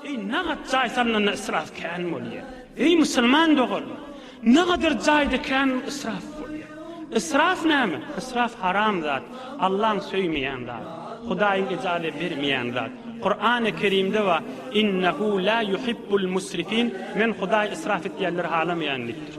Eý, nagt jaý salnanda ysraf kän bolýar. Eý, musulman doganlar! Nagadar jaýda kän ysraf bolýar. Ysraf näme? Ysraf haram zat, Allaň söýmeýän zat, Hudaýyň ijazä bermeýän zat. Kurany Kerimde bar, Innehu la yuhibbul musrifin, Men Hudaý ysraf etýänleri halamaýan diýipdir.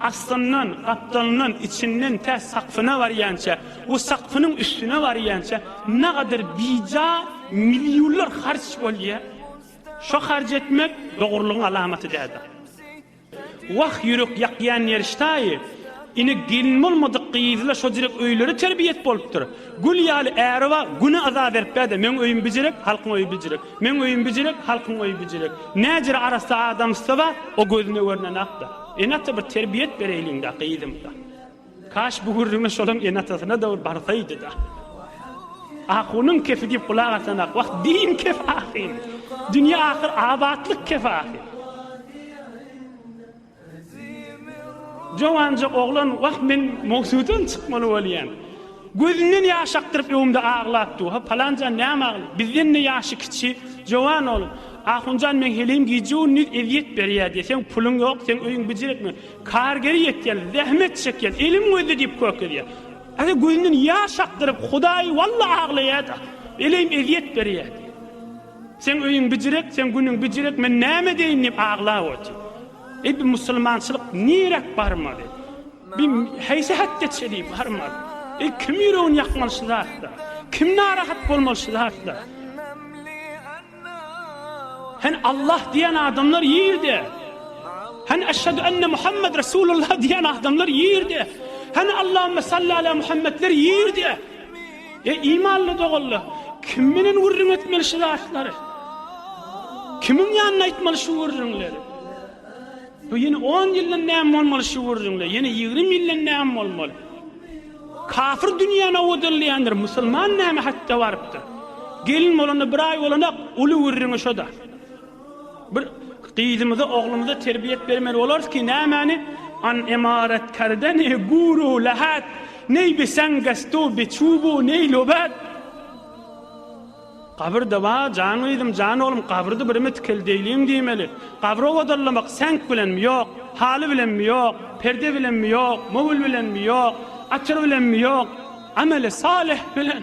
Astyndan, gapdalyndan, içinden tä sakpyna barýança we sakpynyň üstüne barýança nagadyr bija millionlar harç bolýar. Şo harç etmek dogrulygyň alamaty däldir. Wah, ýürek ýakýan neriştaýy, ine gelin bolmadyk gyzla şo direk öýleri terbiýet bolupdyr. Gül ýaly äri bar, güne yza beripdä-de, Meň öýüm bijirek, halkyň öýi bijirek, Meň öýüm bijirek, halkyň öýi bijirek. Näjere arassa adamsy bar, o gözüne görnen ak-da. Ene-ata bir terbiýet bereýliň-dä, gyzym-da. Kaş bu gürrüňe şolam ene-atasyna dowul barsaýdy-da. Ahunyň kefi diýip gulak asan-ak, wah, din kef ahym. Dünýe-ahyr abatlyk kef ahym. Jowanja oglan Wah, men Mogsudan çykmaly bolýan. Gözünden ýaş akdyryp öwümde aglap dur-ha, Palanjan näme agla, bizden-de ýaşy kiçi, jowan oglan. Ahunjan meň heleýim gije-gündiz ezýet berýär diýseň, puluň ýok, seň öýüň bijirikmi? Kargeri ýetýän, zähmet çekýän, elim gözde diýip kökezýär. Ata gözünden ýaş akdyryp, Hudaý walla aglaýar-da, eleýim ezýet berýär diýýär. Seň öýüň bijirek, seň günüň bijirek, men näme edeýin diýip aglap otyr. Eý, bu musulmançylyk niräk barmaly? Bu haýsy häkde çelip barmaly? Eý, kim ýüregini ýakmaly şu zatlar? Kim narahat bolmaly şu zatlar? Hany Allah diýen adamlar ýerde? Hany eşhedü enne Muhammed Resulullah diýen adamlar ýerde? Hany Allahümme salli ala Muhammedler ýerde? Eý, imanly doganlar! Kim bilen gürrüň etmeli şu zatlary? Kimiň ýanynda aýtmaly şu gürrüňleri? Bu ýene on ýyldan näme bolmaly şu gürrüňler? Ýene ýigrimi ýyldan näme bolmaly? Kafir dünýäni owadanlaýandyr, musulman näme hatda barypdyr? Gelin bolanda bir aý bolanak, uly gürrüňi şo-da. Bir gyzymyza, oglumyza terbiýet bermeli bolarys ki, nämäni an imarat karde ne guru lahat, ney bi sangastu bi çubu ney lobat. Gabyr-da bar, jan gyzym, jan oglum, gabyr-dy birimi tikeldeýliň diýmeli. Gabry owadanlamak seňk bilenmi, ýok, haly bilenmi, ýok, perde bilenmi, ýok, möwül bilenmi, ýok, atyr bilenmi, ýok, ameli salyh bilen.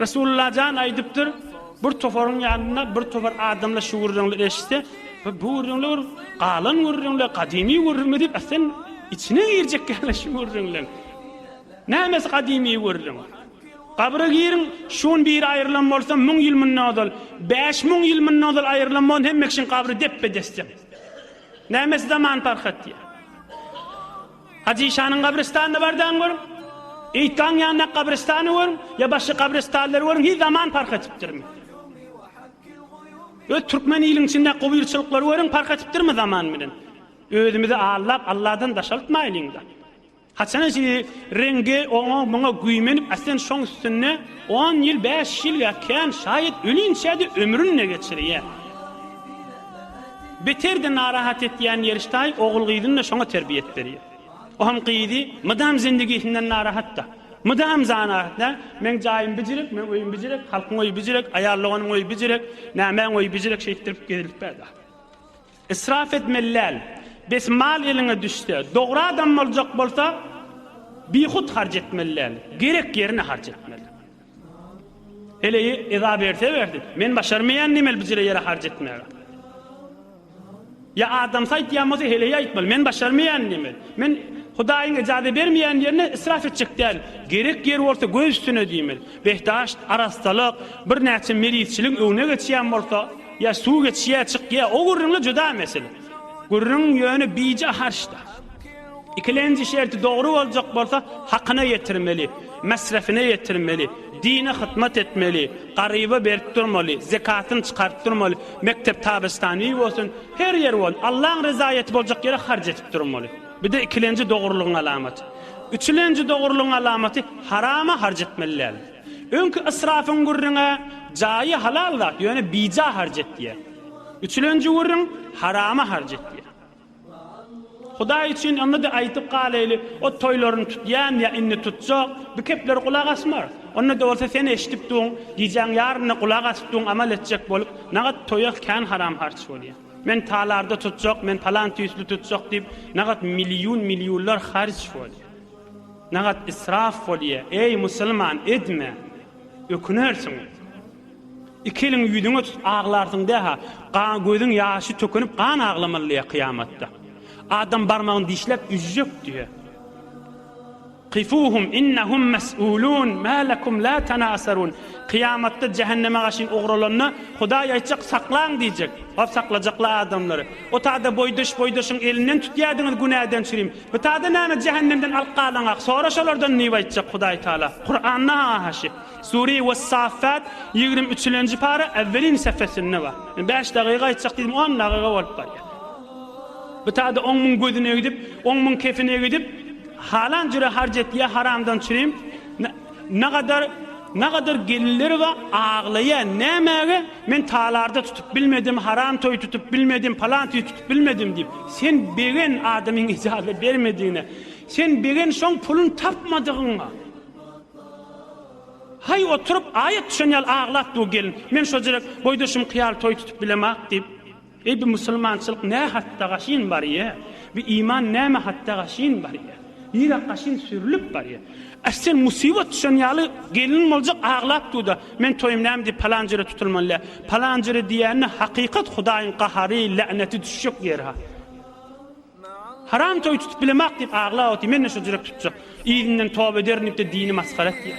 Resulullah jan aýdypdyr, Bir toparyň ýanynda bir topar adamlar şu gürrüňleri eşitse, Bu gürrüňler bir galan gürrüňler, gadymy gürrüňler diýip sen içine girjekkäler şu gürrüňleň. Nämesi gadymy gürrüň? Gabra giriň, şu gün biri aýrylan bolsa, müň ýyl mundan ozal, bäş müň ýyl mundan ozal aýrylan bolan hemme kişiň gabry depbe-desdek. Nämesi zaman parhat diýýär. Hajy şanyň gabrystanyna bardagyňy görüň, Eýtgaň ýanyndaky gabrystany görüň, ýa başga gabrystanlary görüň, hiç zaman parh etipdirmi? Öz türkmen iliň içindäki gobyrçylyklary görüň, parh etipdirmi zaman bilen? Özümizi aldap, Alladan daşaltmaýlyň-da. Haçana şeýle reňge, oňa, muňa güýmenip, äsen şoň üstünde on ýyl, bäş ýyl ýa kän, şaýat ölinçä-de ömrüni-de geçirýär. Beter-de narahat etýän Ýeriştaý ogul-gyzyny-da şoňa terbiýe etdirýär. O hem gyzy mydam zendigisinden narahat-da. Mydam zanahat, nä, meň jaýym bijirek, meň öýüm bijirek, halkyň öýi bijirek, aýal doganyň öýi bijirek, nämäň öýi bijirek şeýtdirip gezilip bärde. Israf etmeli däl. Bes mal eliňe düşse, dogry adam boljak bolsa, bihut harç etmeli däl. Gerek ýerine harç etmeli. Heleýi eza berse berdi. Men başarmaýan nemeli bijire ýere harç etmäge. Ýa adamsy aýtýan bolsa heleýi aýtmaly. Men başarmaýan nemeli. Men Hudaýyň ejaze bermeýän ýerine israf etjek däl. Gerek ýer bolsa göz üstüne diýmeli. Behdaşt, arassalyk, birnäçe merizçiligiň öňüne geçýän bolsa, ýa suw geçýä çykýa o gürrüňle juda mesele. Gürrüň ýöne bije harçda. Ikilenji şerti dogry boljak bolsa, hakyna ýetirmeli, mesrefine ýetirmeli, dine hytmat etmeli, garyba berip durmaly, zekatyny çykaryp durmaly, mekdep tabistanyý bolsun, her ýer bolsun, Allaň rezaýaty boljak ýere harç edip durmaly. Bir-de ikilenji dogrulygyň alamaty. Üçülenji dogrulygyň alamaty harama harç etmeli däl. Öňki ysrafyň gürrüňi, jaýy halal zat, ýöne bija harç et diýýär. Üçülenji gürrüň, harama harç et diýýär. Hudaý üçin onda-da aýdyp galaýly, o toýlaryny tutýan ýa indi tutjak, bu keplere gulak asmarys. Onda-da bolsa sen eşidip duň, gijäň ýaryna gulak asyp duň, amal etjek bolup, nagat toýa kän haram harç bolýar. Men talarda tutjak, men palan tüýsli tutjak diýip, nagat milliun-milliunlar harç bolýar. Nagat israf bolýar. Eý, musulman, edme! Ökünersiň. Iki eliň ýüzüňe tutup aglarsyň dä-ha, gan gözüň ýaşy tökünip gan aglamaly diýýär kyýamatda. Adam barmagyny dişläp üzjek diýýär. Kifuhum innahum mes'ulun ma lekum la tanasarun. Kyýamatda jähenneme gaşyn ugralanda Hudaý aýtjak saklaň diýjek. Hop saklajaklar adamlary. O tada boýdaş boýdaşyň elinden tutýardyňyz günäden çürim. Bu tada näme jähennemden alyp galaňak. Sora şolardan diýip aýtjak Hudaý Taala. Kuranda-ha haşy. Sure Wes-Saffat ýigrimi üçülenji para Awwelin sefesinde bar. Men bäş dagyga aýtjak diýdim, on dagyga bolup barýar. Bu tada on müň gözüne gidip, on müň kefine gidip, halan jüre harç etýär, haramdan çürim. Nagadar, nagadar gelinleri bar, aglaýar. Nämäge? Men talarda tutup bilmedim, haram toý tutup bilmedim, palan toý tutup bilmedim diýip. Sen begen adamyň ijazat bermedigine. Sen begen şoň pulun tapmadygyňa. Haý oturyp aýat düşen ýaly aglap dur gelin. Men şojrek boýdaşym kyýaly toý tutup bilemok diýip. Eý bi musulmançylyk nä hatda gaşyn barýa. Bi iman näme hatda gaşyn barýa. Nirä gaşyn sürülip barýa. Aş sen musybat düşen ýaly gelin boljak aglap durda. Men toýum näme diýip palan jere tutulmaly lä. Palan jere diýende hakykat hudaýyň gahary, lä'neti düşjek ýer ha. Haram toý tutup bilemok diýip aglap otyr, men-de şol jürek tutjak. Yzyndan toba ederin diýip-de dini masgara etýär.